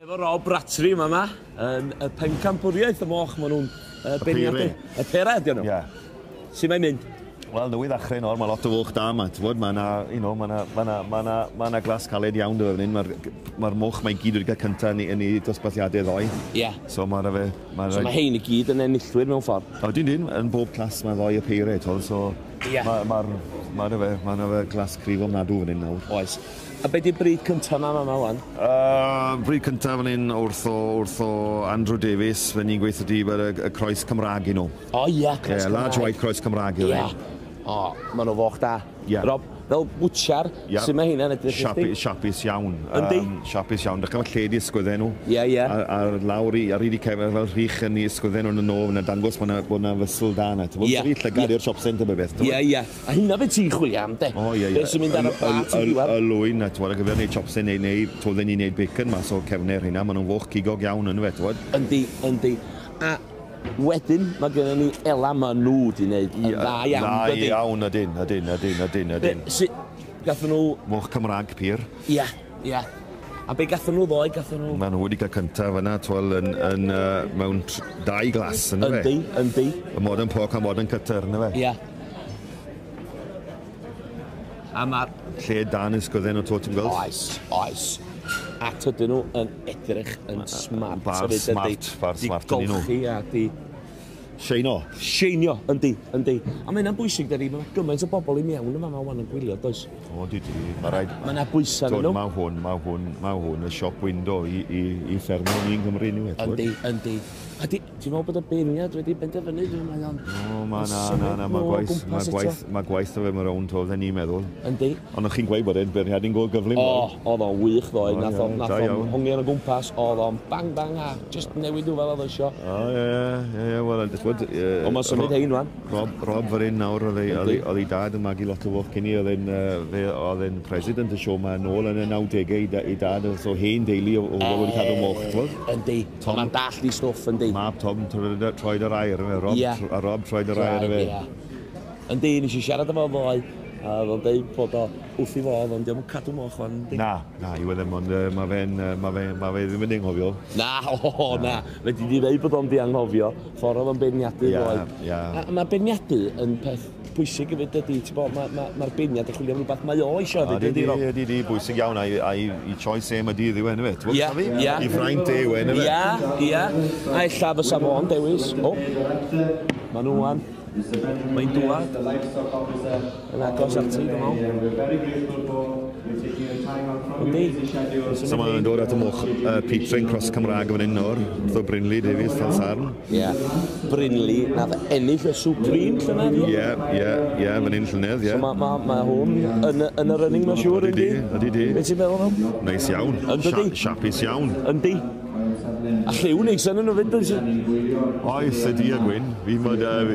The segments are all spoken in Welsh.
Efo Rob Bratry yma yma, yn y pencampwriaeth y moch, maen nhw'n uh, beirniadu. Y pera ydy nhw. Ie. Yeah. Sut mae'n mynd? Wel, nwy ddechrau nawr, mae lot o fwch da yma. Ti'n bod, mae yna, you know, mae yna, mae yna, mae yna, mae yna glas caled iawn dyfa fan hyn. Mae'r ma moch mae gyd wedi cael cyntaf yn, yn ei dosbarthiadau ddoe. Ie. Yeah. So mae yna fe... Mae so mae hein i gyd yn enillwyr mewn ffordd. O, dyn dyn, yn bob clas mae ddoe y peired, so Ie. Ma' ma'r ma' 'na fe ma' 'na fe glas cryf ofnadw fan 'yn nawr. Oes. A be' 'di'r brig cynta ma' fama ŵan? Yy brig cynta fan 'yn wrth o wrth o Andrew Davies fe ni'n gweitho di bod y y croes Cymrâg i nw. O ie croes Cymraeg. Ie large white croes Cymrâg yw e. Ie. O ma' 'na foch da. Ie. Rob fel bwtsiar Ie. Su' ma' hynna'n edrych i chdi? Siapu- siapus iawn. Yndi? Yym siapus iawn. Dych ch'mod lle ydi ysgwydde nw? Ie ie. Ar ar lawr i ar 'yd 'u cefn fel rhych yn 'u ysgwydde nw yn y nôl fyn 'na dangos ma' 'na bod 'na fysl da 'na t'mod? Ie. Jyst rhy llygad Ie. i'r siop sent a be' byth t'mod? Ie ie. A hynna be' ti'n chwilio am 'de? O ie ie. Be' sy'n mynd ar y ba ti'n diwadd? Y l- y l- y lwyn a t'mod ar gyfer neud siopse neu neu t'mod fy' ni'n neud bacon mas o cefne rheina ma' nw'n foch cigog iawn yndyfe t'mod? Yndi yndi. A Wedyn mae gennym ni Ela maen nhw wedi gwneud yn dda iawn yn dydyn? Da iawn ydyn, ydyn, ydyn, ydyn, ydyn. Be, si, gathen nhw... Moch Cymraeg pur. Ia, ia. A be gathen nhw ddoe, gathen nhw? Maen nhw wedi cael cyntaf yna, twel, yn, yn, uh, mewn dau glas, yna fe? Yndi, yndi. Y modern pork a modern cutter, yna fe? Ia. A mae'r lle dan yn sgydden o Totem Girls. Oes, oes. A tydyn nhw yn edrych yn smart. Bar smart, bar smart yn nhw. Di golchi a di Seinio. Seinio, yndi, yndi. A mae hynna'n bwysig, dydy, mae gymaint o bobl i mewn yma, mae wan yn gwylio, does? O, di di, mae rhaid... Mae yna bwysau yn nhw. Mae hwn, mae hwn, mae hwn, y siop window i, i, i ffermio ni yng Nghymru ni, wedyn. Yndi, yndi. A di, Ti'n meddwl bod y beirniad wedi benderfynu ble mae o'n... O, mae na, na, na, mae gwaith, mae gwaith, mae gwaith o fe mewn rownd o, dden ni'n meddwl. Yndi. Ond o'ch chi'n gweud bod e'n beirniad yn go gyflym. O, oedd o'n wych ddoe, nath o'n nath o'n hongi ar y gwmpas, oedd o'n bang bang a just newid nhw fel oedd eisiau. O, ie, ie, ie, wel, dwi'n gwybod... Ond mae'n symud hein, wan. Rob, Rob fyrr un nawr, oedd ei dad yn magu lot o foch cyn i, oedd e'n, fe oedd e'n president y siw ma yn ôl yn y 90au, ei dad, so hen deulu o wedi cadw moch, ti'n gwybod? Yndi. Tom yn dallt ei stwff yndi? Mab Tom troed yr aer yfe? Rob? Ia. A Rob troed yr aer yfe? Ia. Yndi, nes i siarad efo ddoe, a o'dd o'n deud bod o wrth ei fodd, ond dio'm yn cadw moch wan yndi? Na, na, yw e ddim, ond yy ma' fe'n yy ma' fe ma' fe ddim yn dy anghofio. Na, o na, fedri di ddeud bod o'm di anghofio, ffor o'dd o'n beirniadu ddoe. Ia, ia. A ma' beirniadu yn peth bwysig hefyd dydy, ti'n bod, mae'r ma, ma, beirniad yn chwilio am rhywbeth mae o eisiau hefyd, ydy, Rob? Ydy, ydy, bwysig iawn, a'i, ai, i choice e, mae dydd yw e, nefyd, ti'n bod, fi? Ia, I fraint e yw e, nefyd? Ia, ia, a ella fysa fo'n dewis, o, mae nhw an, mae'n dŵad, yn agos at ti, dwi'n meddwl. Ydy. So mae'n dod at y moch, uh, Pete Train Cross Cymraeg yn fan hyn nawr, Brynley Davies, Tal Sarn. Ie. Brynleu nath ennill y Supreme llynedd ie? Ie, ie, ie, fan hyn llynedd, ie. So ma' ma' ma' hwn yn y yn y running ma'n siŵr yndi? Ydi, ydi. Be' ti'n meddwl am? Neis iawn. Yndydi? Sha- Siapus iawn. Yndi. A lliw neis yn nhw 'fyd does? Oes, ydi a gwyn. Fi mod uh,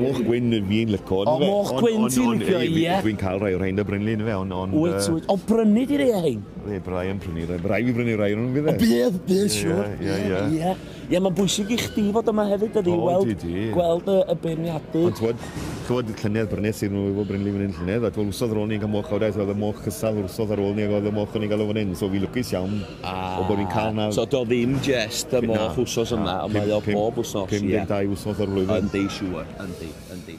moch gwyn fi'n lico. O, moch gwyn ti'n licio, ie. Dwi'n cael rhai o'r rhain da Brynleu yn fe, ond... ond wyt, wyt. O, brynu di rei hyn? Ie, byddai yn prynu rhai. Byddai fi brynu rhai o'n nhw'n fydd e? Bydd, bydd, siwr. Ie, ie, ie. Ie, mae'n bwysig i chdi fod yma hefyd, ydy, oh, weld, di, di. gweld y, y beirniadu. Ond twod, twod llynedd brynes i'r nhw efo Brynley fan hyn llynedd, a twod wrsodd ar ôl ni'n cael moch awdau, oedd y moch cystal wrsodd ar ôl ni, ac oedd y moch o'n i'n cael o fan hyn, so fi lwcus iawn ah, o bod ni'n cael na... So do ddim jest y moch wrsos yma, ond mae o bob wrsos. 52 wrsos ar flwyddyn. Yndi, siwr, yndi, yndi.